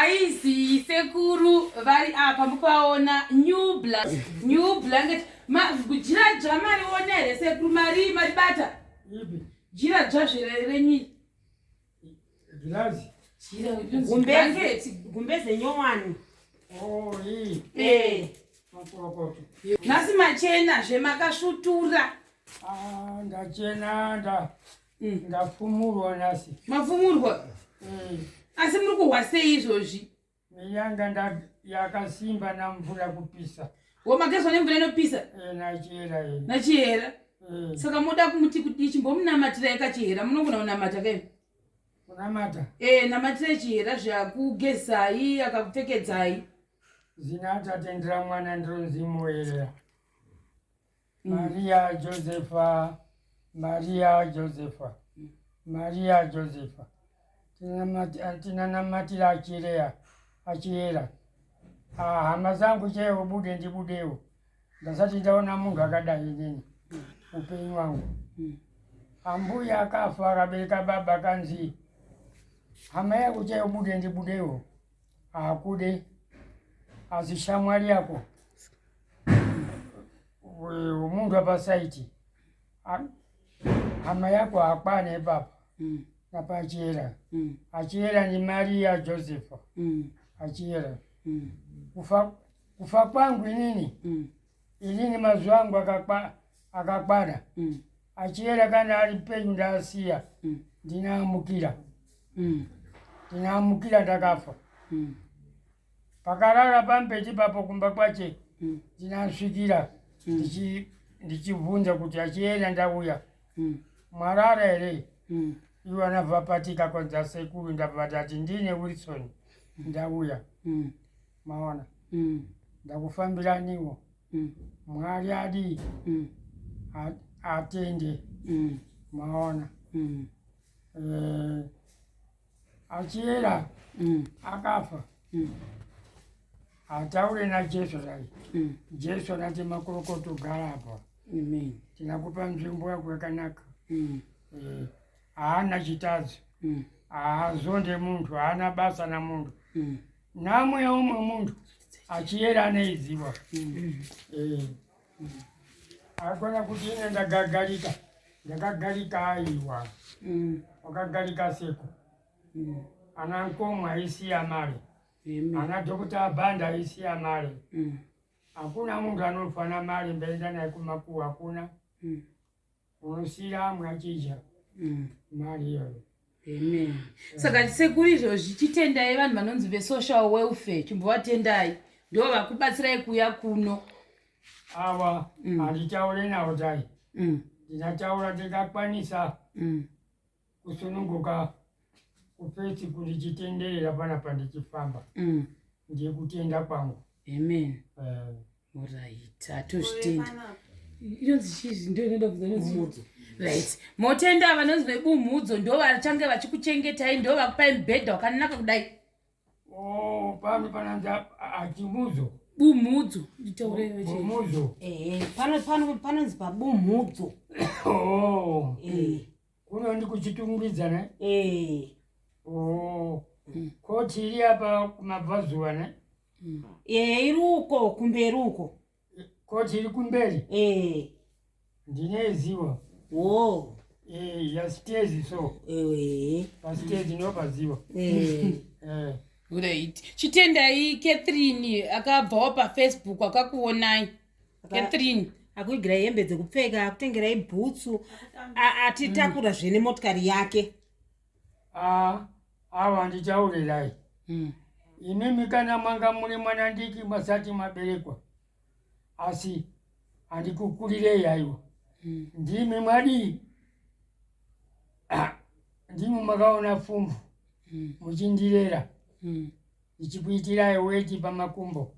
Aizi sekuru vari apa mupaona new black new blanket majira dzva mari one here sekuru mari mari bata jira dzva zvere renyi gumbe zenyowani oh, eh. nhasi machena zvemakasvutura ah, ndachena nda Mm. ndafumurwa nhasi mafumurwa mm. asi muri kuhwa sei izvozvi miyanga yakasimba namvura kupisa wo magezwa nemvura inopisa eh, nachihera eh. nachihera eh. saka moda kumuti kudii chimbomunamatirai kachihera munogona kunamata kaini kunamata e namatirai chihera zvakugezai akakupfekedzai zina atatendera mwana ndiro nzimo yerera mm. maria josefa maria josefa mm. maria josefa tinanamatira achireya achiyera ah, hama zangu chee ubude ndibudewo ndasati ndaona munhu akadai nini upenyu wangu ambuya akafa akabereka baba kanzi hama yakuchai ubude ndibudewo haakude asi shamwari yako wemunhu apasaiti hama yako hakwana ipapa mm. napachera mm. achiyera nemari yajosepha mm. achiyera mm. kufa, kufa kwangu inini mm. inini mazuva angu akakwana mm. achiyera kana ari penyu ndaasiya mm. ndinaamukira mm. ndinaamukira ndakafa mm. pakarara pambeti papo kumba kwache ndinasvikira ndichibvunza kuti achiyera ndauya mwarara here ivo anavapatika kwanza sekuru ndavavatati ndine wilson ndauya maona ndakufambiraniwo mm. mwari adii mm. atende mm. maona mm. eh, achiyera mm. akafa mm. hataure najesu zai mm. jesu nati makorokoto gara apa mm. tinakupa nzvimbo yako yakanaka mm. eh, haana chitadzo mm. haazonde munhu haana basa namunhu mm. Nhamo yeumwe munhu achiyera anoiziva. Agona kuti ine ndagagarika, ndakagarika aiwa. Wakagarika seko. Ana nkomo aisiya mari. Ana Dhokuta Abanda aisiya mari. Hakuna munhu anofana mari ndaenda naye kumakuwa, hakuna. Unosira mwachija mm. mari iyoyo. Amen. Saka sekuru izvozvi chitendai vanhu vanonzi vesocial welfare chimbovatendai ndo vakubatsirai kuuya kuno. Ava mm. handitaure navo dai. Mm. Ndinataura ndingakwanisa. kusununguka kufesi kuti chitenderera pana pandichifamba mm. ndiye kutenda kwangu amen eh. orit hatozvitenda inonzi chii ndo inoda kuzanozumudzo right motenda vanonzi vebumhudzo ndo vachange vachikuchengetai ndo vakupai mubhedha wakanaka kudai oh, pano pananzi achimudzo bumhudzo nditaureemudzo panonzi pabumhudzo oh. eh. kuno ndikuchitungidzana eh oh mm. koti iri apa kumabvazuva ne mm. eh iri uko kumberi uko koti iri kumberi eh ndine ziwa oh eh ya stage so eh pa stage no paziwa eh eh Great. Chitendayi Catherine akabvawo paFacebook akakuonai. catherine akuigirai hembe dzekupfeka akutengerai bhutsu atitakura zve nemotikari yake ah, awa ndichaurirai hmm. imimi kana manga muri mwana ndiki masati maberekwa asi handikukurirei aiwa hmm. ndimi mwadii ah, ndimi makaona pfumvu hmm. muchindirera ndichikuitirai weti pamakumbo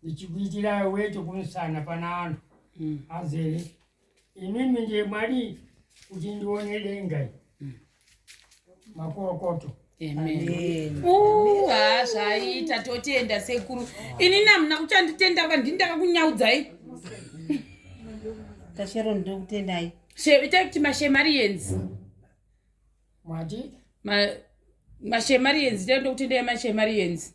ndichikuitira weti kumusana pana vanhu mm. azere imimi ndiye mwari kuti ndione denga mm. makorokoto ha zvaita totenda sekuru inini hamuna kuchanditenda va ndini ndakakunyaudzai tashero ndiri kutendai itai kuti mashemarians mati mashemarians itai ndokutendai mashemarians